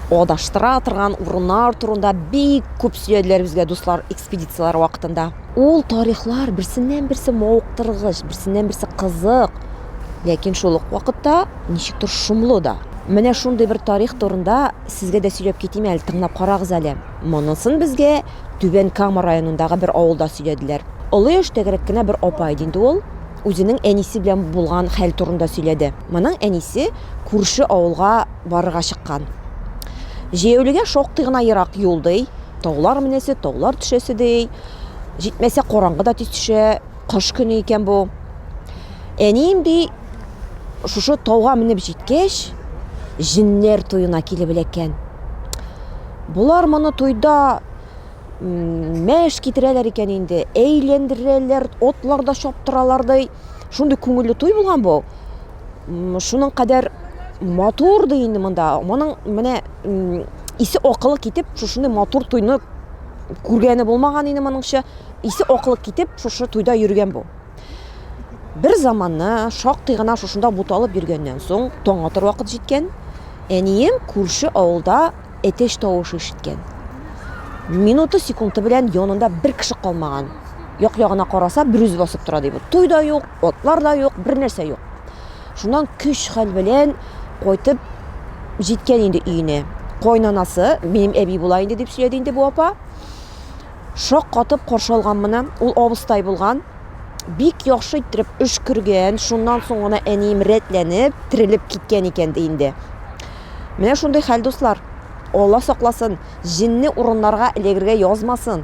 Адаштыра торган урыннар турында бик күп сөйләделәр безгә дуслар экспедицияләр вакытында. Ул тарихлар берсеннән-берсе мавыктыргыч, берсеннән-берсе кызык, ләкин шул ук вакытта ничектер шомлы да. Менә шундый бер тарих турында сезгә дә сөйләп китим әле, тыңлап карагыз әле. Монысын безгә Түбән Кама районындагы бер авылда сөйләделәр. Олы яшьтәгерәк кенә бер апа иде инде ул, үзенең әнисе белән булган хәл турында сөйләде. Моның әнисе күрше авылга барырга чыккан. Җәяүлегә шактый гына ерак юл, ди. Таулар менәсе, таулар төшәсе, ди. Җитмәсә, караңгы да тиз төшә. Кыш көне икән бу. Әнием, ди, шушы тауга менеп җиткәч, җеннәр туена килеп эләккән. Болар моны туйда мәш китерәләр икән инде, әйләндерәләр, атларда чаптыралар, ди. Шундый күңелле туй булган бу. Шуның кадәр матур ди инде монда. Моның менә исе акылы китеп, шушындай матур туйны күргәне булмаган инде моныңча. Исе акылы китеп, шушы туйда йөргән бу. Бер заманны шактый гына шушында буталып йөргәннән соң, таң атыр вакыт җиткән. Әнием күрше авылда әтәч тавышы ишеткән. Минуты секунды белән янында бер кеше калмаган. Як-ягына караса, берүзе басып тора ди бу. Туй да юк, Атлар да юк, бер нәрсә юк. Шуннан көч хәл белән кайтып җиткән инде өенә. Кайнанасы, минем әби була инде дип сөйләде инде бу апа. Шак катып каршы алган моны. Ул абыстай булган. Бик яхшы иттереп өшкергән. Шуннан соң гына әнием рәтләнеп, терелеп киткән икән ди инде. Менә шундый хәл, дуслар. Алла сакласын, җинне урыннарга эләгергә язмасын.